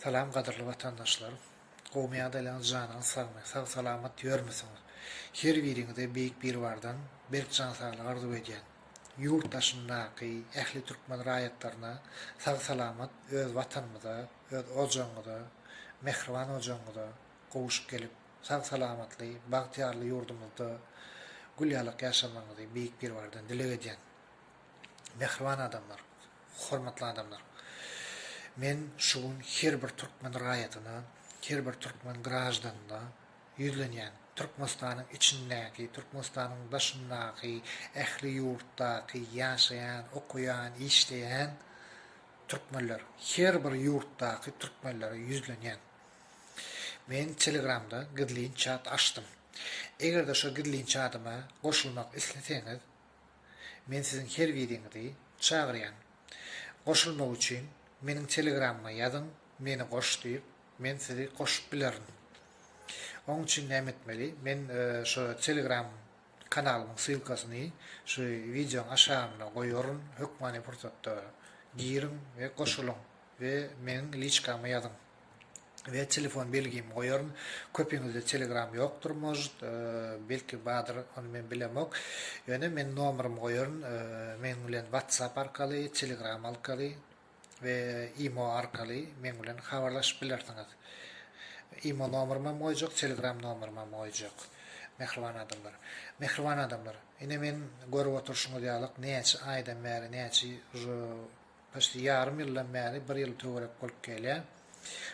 Salam gadyrly watandaşlar! Gowmy ýagdaýlaryňyz janyňyz sagmy, sag salamat ýörmüsiňiz? Her biriňize Beýik Biribardan berk jan saglyk arzuw edýän. Ýurt daşyndaky ähli türkmen raýatlaryna sag salamat öz watanymyza, öz ojagyňyza, mähriban ojagyňyza gowuşyp gelip, sag salamatly, bagtyýarly ýurdumyzda gül ýalak ýaşamagyňyzy Beýik Biribardan dileg edýän. Mähriban adamlar, hormatly adamlar! Men şu gün her bir türkmen raýatyna, her bir türkmen graždanyna ýüzlenýän, Türkmenistanyň içindäki, Türkmenistanyň daşyndaky, ähli ýurtdaky ýaşaýan, okaýan, işleýän türkmenler, her bir ýurtdaky türkmenlere ýüzlenýän. Men Telegramda gizlin çat açdym. Eger-de şo gizlin çadyma goşulmak isleseňiz, Men siziň her biriňizi çagyrýan. Goşulmak üçin meniň telegramyma ýazyň meni goş diýip men sizi goşup bilerin. Oň üçin näme etmeli? Men şo telegram kanalymyň ssylkasyny şu wideoň aşagynda goýaryn hökmany pursatda giriň we goşulyň we meniň liçkama ýazyň. we telefon belgimi goýaryn. Köpiňizde Telegram ýokdur может, belki bardyr, ony men bilemok. Ýöne men nomerymy goýaryn, meň bilen WhatsApp arkaly, Telegram arkaly we imo arkaly meň bilen habarlaşyp bilersiňiz. Imo nomerym hem goýjak, Telegram nomerym hem goýjak. Mähriban adamlar. Mähriban adamlar, ine men görüp oturşyňyz ýalyk näçe aýdan bäri, näçe Başda ýarym ýyldan bäri bir ýyl töwerek bolup gelýän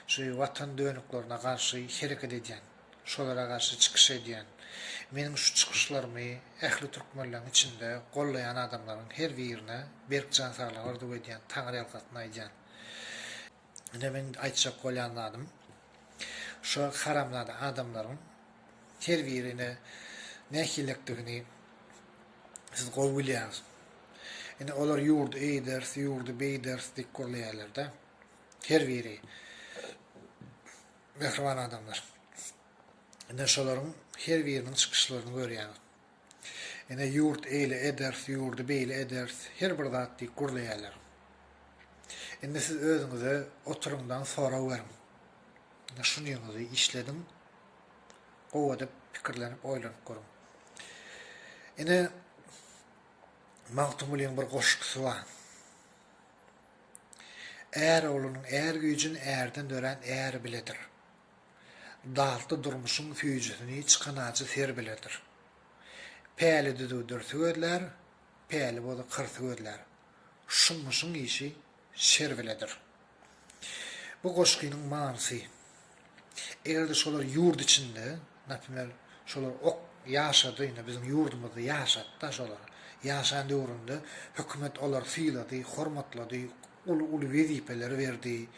şu watan dönüklerine garşy hereket edýän, şolara garşy çykyş edýän, meniň şu çykyşlarymy ähli türkmenleriň içinde gollaýan adamlaryň her birine berk jan saglygy arzuw edýän, taňryýalkasyn aýdýan. Ine meň aýtjak bolýan zadym, şo haramzada adamlaryň serweri nähiliräkdigini siz gowy bilýäňiz. Indi olar ýurdy eýders, ýurdy beýders diýip gürleýärler-de. Serweri mähriban adamlar. Indi şolaryň her biriniň çykyşlaryny görýäňiz. Ene ýurt eýle ederis, ýurdy beýle ederis, her bir zat diýip gürleýärler. Indi siz özüňize oturyňdan sorag beriň. Indi şunyňyzy işlediň, gowy edip pikirlenip, oýlanyp görüň. Ene Magtymgulyň bir goşgusy bar. Är oglunyň är güýjün ärden dörän äri biledir. Datly durmuşyň süýjüsini çykan ajy ser biledir. Päli düzüw dürsi gözlär, päli bozy kyrty gözlär. Şummuşyň işi şer biledir. Bu goşgynyň manysy. Eger-de şolar ýurt içinde, naprimýr, şolar ok ýaşady, indi biziň ýurdumyzda ýaşady-da şolar. Ýaşan döwründe hökümet olary sylady, hormatlady, Uly uly wezipeleri berdi.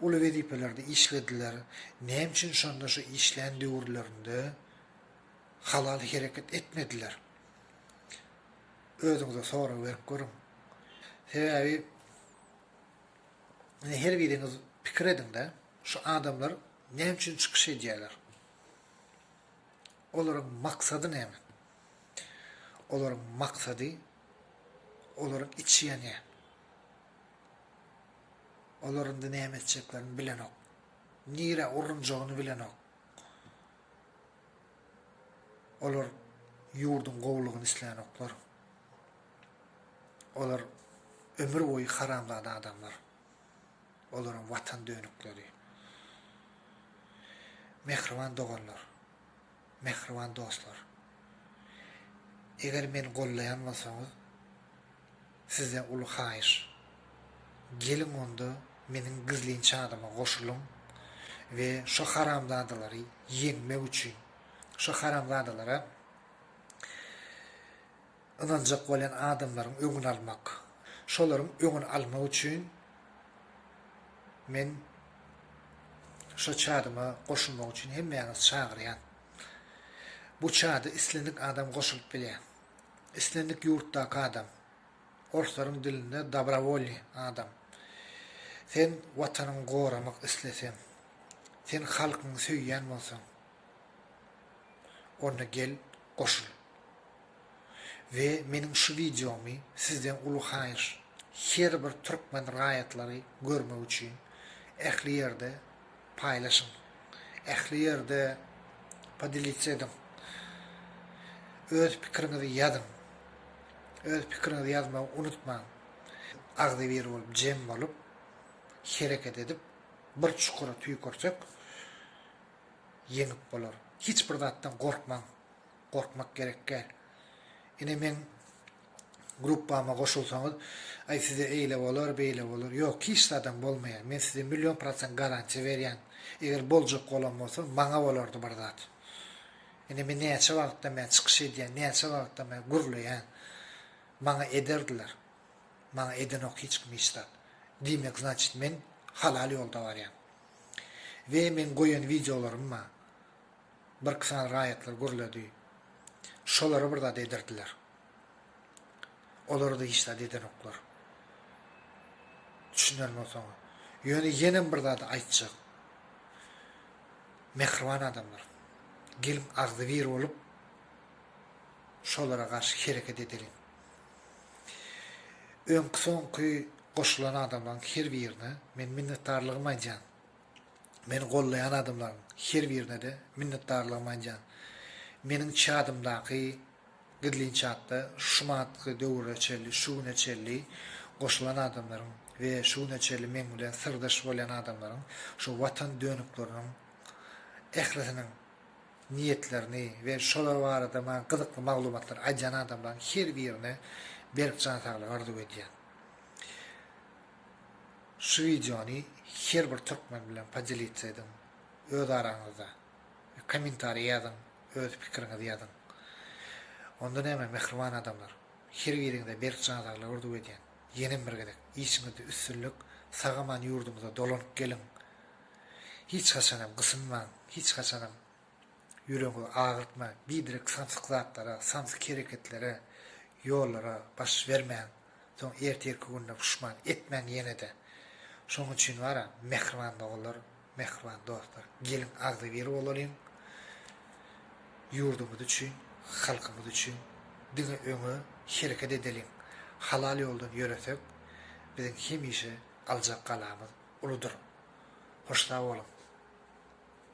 Uly wezipelerde işlediler. Näme üçin şonda şu işlän döwürlerinde halal hereket etmediler? Özüňize sorag berip görüň. Sebäbi ine her biriňiz pikir ediňde, şu adamlar näme üçin çykyş edýärler? Olaryň maksady näme? Olaryň maksady olaryň içi ýanýar. Olar indi näme etjeklerini bilenok. Nirä urunjagyny bilenok. Olar ýurduň gowulygyny islänoklar. Olar ömür boýy haramzada adamlar. Olaryň watan dönükleri. Mähriban doganlar. Mähriban dostlar. Eger meni gollaýan bolsaňyz, sizden uly haýyş. Geliň onda meniň gizlin çadyma goşulyň we şo haramzadalary ýeňmek üçin, şo haramzadalara. Ynanjak bolýan adamlaryň öňüni almak. Şolaryň öňüni almak üçin men şo çadyma goşulmak üçin hemmäňizi çagyrýan. Bu çada islendik adam goşulyp bilýär. Islendik ýurtdaky adam. Orslaryň dilinde dobrovolnyý adam. Sen watanyňy goramak isleseň, sen halkyňy söýýän bolsaň, Onda gel goşul. We meniň şu wideomy sizden uly haýyş, her bir türkmen raýatlary görmek üçin ähli ýerde paýlaşyň. Ähli ýerde podelits ediň. Öz pikiriňizi ýazyň. Öz pikiriňizi ýazmagy unutmaň. Agzybir bolup, jem bolup, hereket edip, bir çukura tüýkürsek, ýeňip bolar. Hiç bir zatdan gorkmaň. Gorkmak gerek däl. Ine meň gruppama goşulsaňyz, aý size eýle bolar, beýle bolar. Ýok, hiç zadam bolmaýar. Men size million prosent garantiýa berýän. Eger boljak bolan bolsa, maňa bolardy bir zat. Ine men näçe wagtdan bäri çykyş edýän, näçe wagtdan bäri gürleýän. Maňa ederdiler. Maňa edenok hiç kim hiç zat. Diýmek, znaçit men halal ýolda barýan. We meň goýan wideolaryma birki sany raýatlar gürledi. Şolara bir zat ederdiler. Olara-da hiç zat edenoklar. Düşünerin osaňa. Ýöne ýenem bir zady aýtjak. Mähriban adamlar. Geliň agzybir bolup şolara garşy hereket edeliň. Öňki-soňky goşulan adamlaryň her birine men minnetdarlygymy aýdýan. Meni gollaýan adamlaryň her birine-de minnetdarlygymy aýdýan. Meniň çadymdaky gizlin çatda şu manatky döwüre çenli, şu güne çenli goşulan adamlaryň we şu güne çenli meň bilen syrdaş bolýan adamlaryň şu Watan dönükleriniň ählisiniň niýetlerini we şolar barada maňa gyzykly maglumatlary aýdýan adamlaryň her birine berk jan saglygy arzuw edýän. Şu wideony her bir türkmen bilen podelitsa ediň öz araňyzda we kommentariýa ýazyň öz pikiriňizi ýazyň. Onda näme mähriban adamlar her biriňize berk jan saglygy arzuw edýän. Ýenem bir gezek işiňizde üstünlik sag aman ýurdumyza dolanyp geliň Hiç haçanam gysynmaň, hiç haçanam ýüregi agyrtma, biderek samsyk zatlara, samsyk hereketlere, ýollara baş bermäň. Soň ertirki günde puşman etmäň ýene-de. Şonuň üçin bar-a, mähriban doganlar, mähriban dostlar, geliň agzybir bolalyň. Ýurdumyz üçin, halkymyz üçin diňe öňe hereket edeliň. Halal ýoldan ýöresek, biziň hemişe aljak galamyz uludyr. Hoşsag boluň!